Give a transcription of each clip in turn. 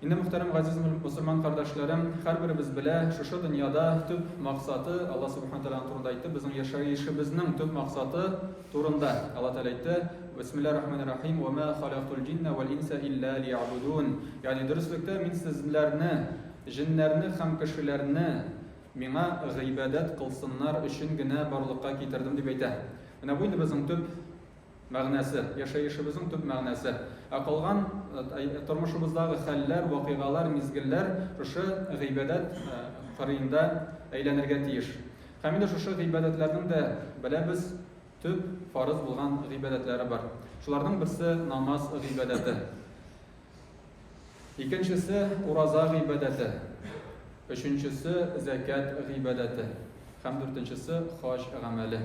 Инде, мөхтәрәм газиз мөселман кардәшләрем, һәрберебез белә, шушы дөньяда төп максаты, Алла Субхана Тәгаләнең турында әйтте, безнең яшәешебезнең төп максаты турында. Алла Тәгалә әйтте, Бисмиллаһир рахманир рахим, Ва ма халактул джинна вал инса илля лиябудун. Ягъни, дөреслектә, мин сезләрне, җеннәрне һәм кешеләрне Миңа гыйбадәт кылсыннар өчен генә барлыкка китердем, дип әйтә. Менә бу инде безнең төп. Мәгънәсе, яшәешебезнең төп мәгънәсе. Ә калган тормышыбыздагы хәлләр, вакыйгалар, мизгелләр шушы гыйбадәт кырыенда әйләнергә тиеш. Һәм инде шушы гыйбадәтләрнең дә, беләбез, төп, фарыз булган гыйбадәтләре бар. Шуларның берсе, намаз гыйбадәте. Икенчесе, ураза гыйбадәте. Өченчесе, зәкят гыйбадәте. Һәм дүртенчесе, хаҗ гамәле.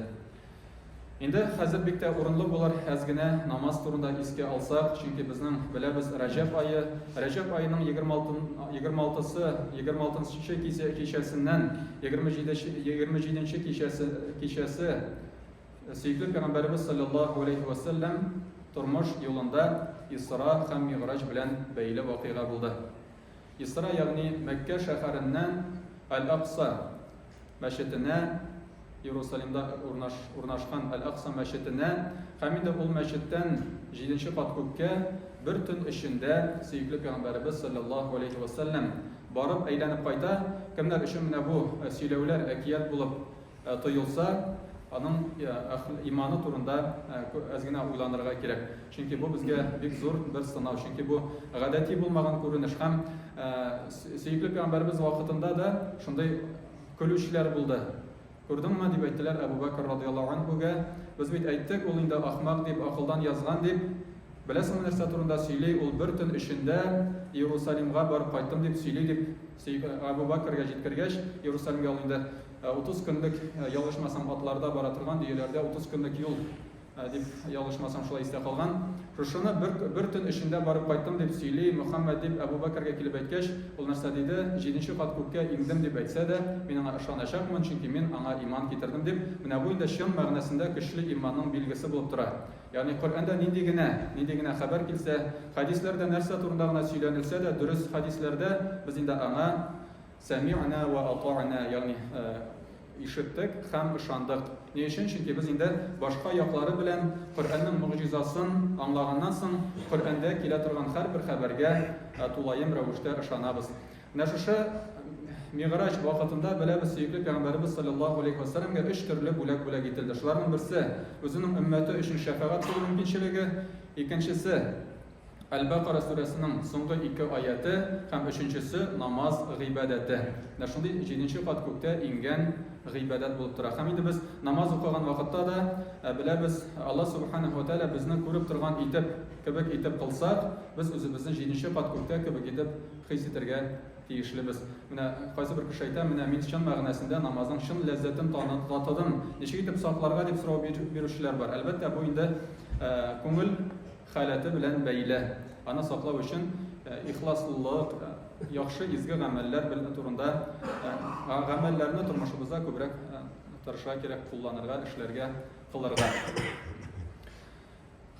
Инде хәзер бик тә урынлы булыр әз генә намаз турында искә алсак, чөнки безнең беләбез Рәҗәб ае. Рәҗәб аеның 26-сы, 26-нчы кичәсеннән 27-нче кичәсе, кичәсе Сөекле пәйгамбәребез саллаллаһу алейхи ва саллям тормыш юлында Исра һәм Мигъраҗ белән бәйле вакыйга булды. Исра, ягъни Мәккә шәһәреннән Аль-Акса мәчетенә Иерусалимда урнашкан Аль-Акса мәчетенә һәм инде ул мәчеттән 7-нче кат күккә бер төн эчендә сөекле пәйгамбәребез саллаллаһу алейхи ва саллям барып әйләнеп кайта. Кемнәр өчен менә бу сөйләүләр әкият булып тоелса, аның иманы турында әз генә уйланырга кирәк. Чөнки бу безгә бик зур бер сынау. Чөнки бу гадәти булмаган күренеш һәм сөекле пәйгамбәребез вакытында да шундый көлүчеләр булды. Күрдеңме дип әйттеләр Әбу Бәкер радияллаһу анһуга. Без бит әйттек, ул инде ахмак дип, акылдан язган дип. Беләсеңме нәрсә турында сөйли? Ул бер төн эчендә Иерусалимга барып кайттым дип сөйли дип Әбу Бәкергә җиткергәч, Иерусалимгә ул инде Утыз көнлек ял ичмасам атларда бара торган дөяләрдә утыз көнлек юл дип ял ичмасам шулай истә калган. Шушыны бер, бер төн эчендә барып кайттым дип сөйли Мөхәммәд дип Әбу Бәкергә килеп әйткәч, ул нәрсә диде, җиденче кат күккә иңдем дип әйтсә дә, мин аңа ышаначакмын, чөнки мин аңа иман китердем дип, менә бу инде чын мәгънәсендә көчле иманның билгесе булып тора. Ягъни Коръәндә нинди генә, нинди генә хәбәр килсә, хәдисләрдә нәрсә турында гына сөйләнелсә дә, дөрес хәдисләрдә, без инде аңа, Сәмигънә вә ата'нә, ягъни ишеттек һәм ышандык. Ни өчен? Чөнки без инде башка яклары белән Коръәннең могҗизасын аңлаганнан соң, Коръәндә килә торган һәрбер хәбәргә тулаем рәвештә ышанабыз. Менә шушы Мигъраҗ вакытында, беләбез, сөекле пәйгамбәребез салләллаһу алейһи вә сәлләмгә өч төрле бүләк бүләк ителде. Шуларның берсе, үзенең өммәте өчен шәфәгать кылу мөмкинчелеге, икенчесе, Әл-Бәкара сүрәсенең соңгы ике аяте һәм өченчесе намаз гыйбадәте. Менә шундый җиденче кат күктә иңгән гыйбадәт булып тора. Һәм инде без намаз укыган вакытта да э, беләбез, Алла Субханәһу ва Тәгалә безне күреп торган итеп, кебек итеп кылсак, без үзебезне җиденче кат күктә кебек итеп хис итәргә тиешлебез. Менә кайсы бер кеше әйтә, менә мин чын мәгънәсендә намазның чын ләззәтен татыдым. Ничек итеп сакларга дип сорау бирүчеләр бар. Әлбәттә, бу инде э, күңел халәте белән бәйле. Аны саклау өчен ихласлылык, яхшы изге гамәлләр бел турында гамәлләрне тормышыбызда күбрәк тырышырга кирәк, кулланырга, эшләргә, кылырга.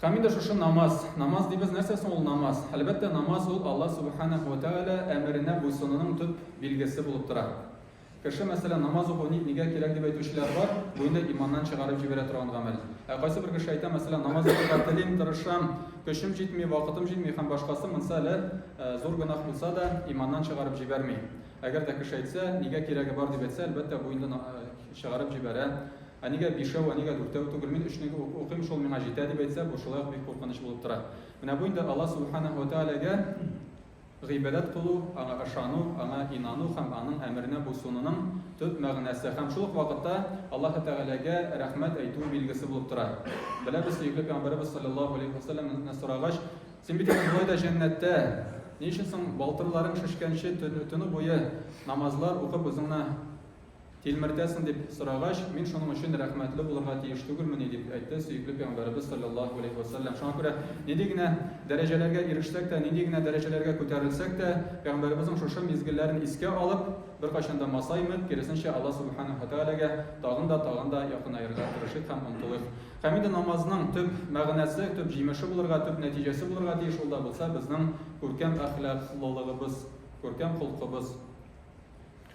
Һәм инде шушы намаз. Намаз дибез, нәрсә соң ул намаз? Әлбәттә, намаз ул Алла Субханаху ва Тәгалә әмеренә буйсынуның төп билгесе булып тора. Кеше, мәсәлән, намаз уку ни, нигә кирәк дип әйтүчеләр бар, бу инде иманнан чыгарып җибәрә торган гамәл. Ә кайсы бер кеше әйтә, мәсәлән, намаз укырга телим, тырышам, көчем җитми, вакытым җитми һәм башкасы, монсы әле зур гөнаһ булса да, иманнан чыгарып җибәрми. Әгәр дә кеше әйтсә, нигә кирәге бар дип әйтсә, әлбәттә, бу инде чыгарып җибәрә. Ә нигә бишәү, ә нигә дүртәү түгел, мин өчне укыйм, шул миңа җитә дип әйтсә, бу шулай ук бик куркыныч булып тора. Менә бу инде Алла Субханәһү вә Тәгаләгә Гыйбадәт кылу, Аңа ышану, Аңа инану һәм Аның әмеренә буйсынуның төп мәгънәсе һәм шул ук вакытта Аллаһы Тәгаләгә рәхмәт әйтү билгесе булып тора. Беләбез, сөекле Пәйгамбәребез салләллаһу алейһи ва сәлләмнән сорагач, Син бит инде болай да җәннәттә, ни өчен соң балтырларың шешкәнче төне буе намазлар укып үзеңне Тилмертәсең, дип сорагач, мин шуның өчен рәхмәтле булырга тиеш түгелмени, дип әйтте сөекле пәйгамбәребез салләллаһу алейһи вә сәлләм. Шуңа күрә нинди генә дәрәҗәләргә ирешсәк тә, нинди генә дәрәҗәләргә күтәрелсәк тә, пәйгамбәребезнең шушы мизгелләрен искә алып, беркайчан да масаймыйк, киресенчә, Алла Сүбхәнәһү вә Тәгаләгә тагын да, тагын да якынаерга тырышыйк һәм омтылыйк. Һәм инде намазның төп мәгънәсе, төп җимеше булырга, төп нәтиҗәсе булырга тиеш, ул да булса безнең күркәм әхлаклылыгыбыз, күркәм холкыбыз.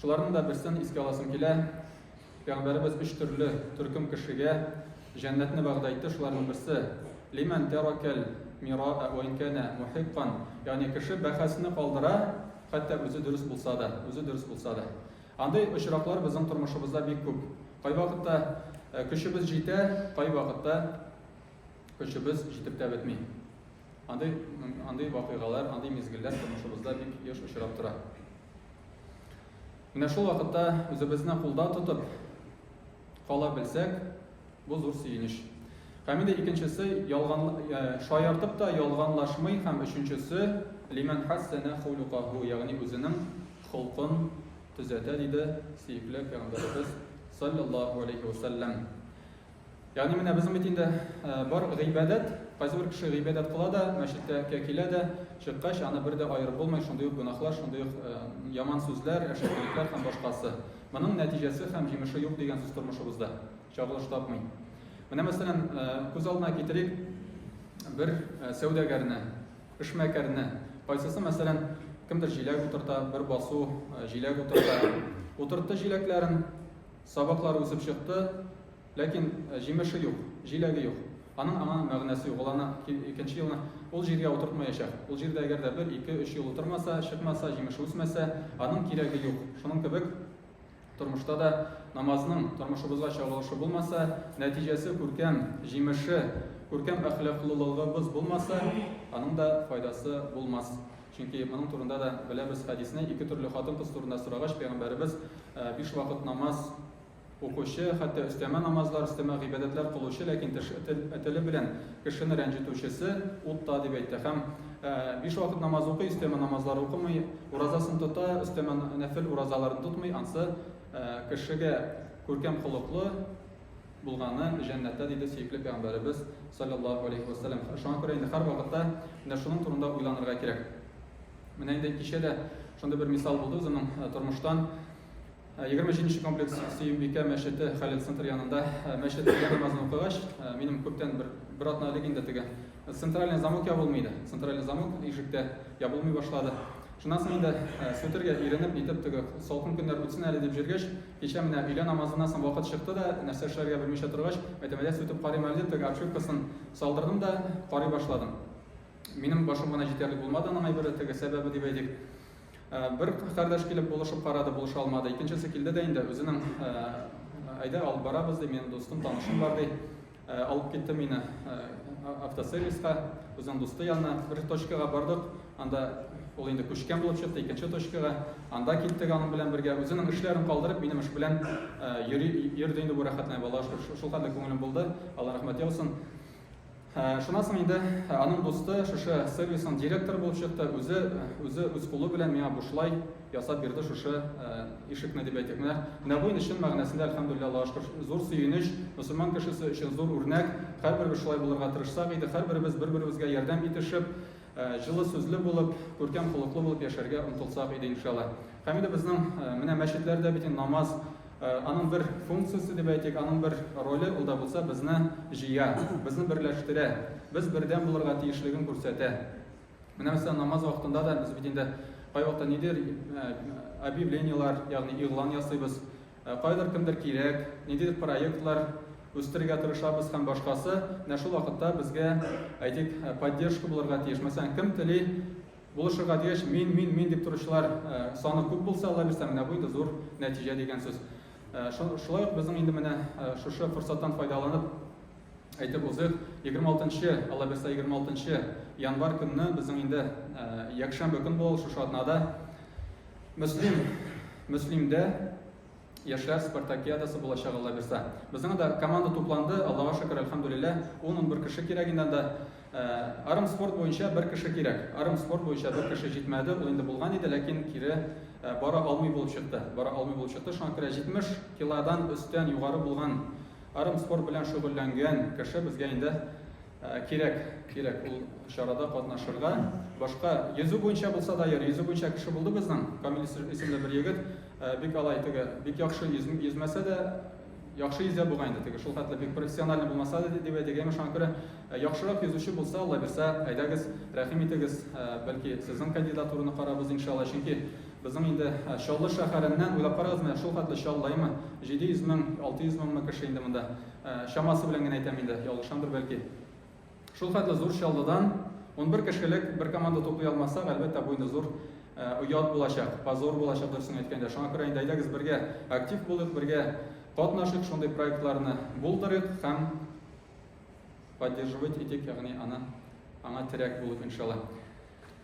Шуларның да берсен искә аласым килә. Пәйгамбәребез өч төрле төркем кешегә җәннәтне вәгъдә итте. Шуларның берсе лиман таракал мираа ва инкана мухиккан. Ягъни кеше бәхәсне калдыра, хәтта үзе дөрес булса да, үзе дөрес булса да. Андый очраклар безнең тормышыбызда бик күп. Кайвакытта э, көчебез җитә, кайвакытта көчебез җитеп тә бетми. Андый, андый вакыйгалар, андый мизгелләр тормышыбызда бик еш очрап тора. Менә шул вакытта үзебезне кулда тотып кала белсәк, бу зур сөенеч. Һәм инде икенчесе ялган шаяртып та ялганлашмый һәм өченчесе лиман хәссәнә хулюкаху, ягъни үзенең холкын төзәтә, диде сөекле пәйгамбәребез саллаллаху алейхи вәсәлләм. Ягъни менә безнең бит инде бар гыйбадәт, кайсы бер кеше гыйбадәт кыла да, мәчеткә килә дә, чыккач аны бер дә аерып булмый, шундый ук гөнаһлар, шундый ук яман сүзләр, әшәкелекләр һәм башкасы. Моның нәтиҗәсе һәм җимеше юк дигән сүз тормышыбызда. Чагылыш тапмый. Менә мәсәлән, күз алдына китерик бер сәүдәгәрне, эшмәкәрне. Кайсысы мәсәлән, кемдер җиләк утырта, бер басу җиләк утырта. Утыртты җиләкләрен, Сабаклары үсеп чыкты, ләкин җимеше юк, җиләге юк. Аның аңа мәгънәсе юк. Ул аны икенче елны ул җиргә утыртмаячак. Ул җирдә әгәр дә бер, ике, өч ел утырмаса, чыкмаса, җимеше үсмәсә, аның кирәге юк. Шуның кебек тормышта да намазның тормышыбызга чагылышы булмаса, нәтиҗәсе күркәм, җимеше, күркәм әхлаклылыгыбыз булмаса, аның да файдасы булмас. Чөнки моның турында да беләбез хәдисне, ике төрле хатын-кыз турында сорагач, пәйгамбәребез, Биш вакыт намаз укучы, хәтта өстәмә намазлар, өстәмә гыйбадәтләр кылучы, ләкин теш, теле белән кешене рәнҗетүчесе утта дип әйтте. Һәм биш вакыт намаз укый, өстәмә намазлар укымый, уразасын тота, өстәмә нәфел уразаларын тотмый, ансы кешегә күркәм холыклы, булганы җәннәттә, диде сөекле пәйгамбәребез, салләллаһу алейһи вә сәлләм. Шуңа күрә инде һәрвакытта менә шуның турында уйланырга кирәк. Менә инде кичә дә шундый бер мисал булды үземнең э, тормыштан. 27 нче комплекс Сөембикә мәчете Хәлил центр янында мәчет намазын укыгач, минем күптән бер бер атна элек инде теге Центральный замок ябылмый иде. Центральный замок ишектә ябылмый башлады. Шуннан соң инде э, сүтергә иренеп, нитеп теге салкын көннәр үтсен әле дип җөргәч, кичә менә өйлә намазыннан соң вакыт чыкты да, нәрсә эшләргә белмичә торгач, мәтәмәдә сүтеп карыйм әле дип, теге обшивкасын салдырдым да карый башладым. Минем башым гына җитәрлек булмады аның әйбере, теге сәбәбе дип әйтик. Э, бер кардәш килеп булышып карады, булыша алмады. Икенчесе килде дә инде үзенең э, әйдә алып барабыз ди, минем дустым, танышым бар ди. Э, алып китте мине э, автосервиска, үзенең дусты янына. Бер точкага бардык, анда ул инде күчкән булып чыкты, икенче точкага. Анда киттек аның белән бергә. Үзенең эшләрен калдырып, минем эш белән э, йөри, йөрде инде бу рәхәтләнә бала. Шул хәтле күңелем булды. Алла рәхмәт яусын. Шуннан соң инде аның дусты шушы сервисның директоры булып чыкты. Үзе үзе үз кулы белән миңа бушлай ясап бирде шушы ишекне дип әйтик. Менә менә бу инде чын мәгънәсендә әлхәмдүлилләһ Аллаһыга шөкер зур сөенеч, мөселман кешесе өчен зур үрнәк. Һәрберебез шулай булырга тырышсак иде, һәрберебез бер-беребезгә ярдәм итешеп, җылы сүзле булып, күркәм холыклы булып яшәргә омтылсак иде иншалла. Һәм инде безнең менә мәчетләрдә бит инде намаз аның бер функциясе дип әйтик, аның бер роле ул да булса безне җыя, безне берләштерә, без бердәм булырга тиешлеген күрсәтә. Менә мәсәлән, намаз вакытында да без бит инде кайвакытта нидер объявлениелар, ягъни игълан ясыйбыз. Кайдыр кемдер кирәк, ниндидер проектлар үстерергә тырышабыз һәм башкасы. Менә шул вакытта безгә, әйтик, поддержка булырга тиеш. Мәсәлән, кем тели булышырга дигәч, мин, мин, мин дип торучылар саны күп булса, Алла бирсә, менә бу инде зур нәтиҗә дигән сүз. Шулай ук безнең инде менә шушы форсаттан файдаланып, Әйтеп узыйк, 26 нчы, аллабирса 26 нчы январь көнне безнең инде ә, якшәмбе көн булды шушы атнада Мөслим Мөслимдә яшьләр спартакиадасы булачак аллабирса. Безнең дә команда тупланды, Аллага шөкер, альхамдулилла, 10-11 кеше кирәк инде анда. Ә, арым спорт буенча бер кеше кирәк. Арым спорт буенча бер кеше җитмәде, ул инде булган иде, ләкин кире ә, бара алмый булып чыкты. Бара алмый булып чыкты, шуңа күрә 70 килодан өстән югары булган Арым спорт белән шөгыльләнгән кеше безгә инде кирәк, кирәк ул чарада катнашырга. Башка йөзү буенча булса да, йөр, йөзү буенча кеше булды безнең, Камил исемле бер егет, бик алай теге, бик яхшы йөзмәсә дә, яхшы йөзә бугай инде теге, шул хәтле бик профессиональный булмаса да дип әйтик, әмма шуңа күрә яхшырак йөзүче булса, Алла бирсә, әйдәгез, рәхим итегез, бәлки сезнең кандидатураны карарбыз, иншалла, чөнки Безнең инде Чаллы шәһәреннән, уйлап карагыз, менә шул хәтле Чаллаймы, 700 мең, 600 меңме кеше инде монда, чамасы белән генә әйтәм инде, ялгышамдыр бәлки. Шул хәтле зур Чаллыдан унбер кешелек бер команда туплый алмасак, әлбәттә, бу инде зур оят булачак, позор булачак, дөресен әйткәндә. Шуңа күрә инде әйдәгез бергә актив булыйк, бергә катнашыйк, шундый проектларны булдырыйк һәм поддерживать итик, ягъни аны аңа терәк булып, иншалла.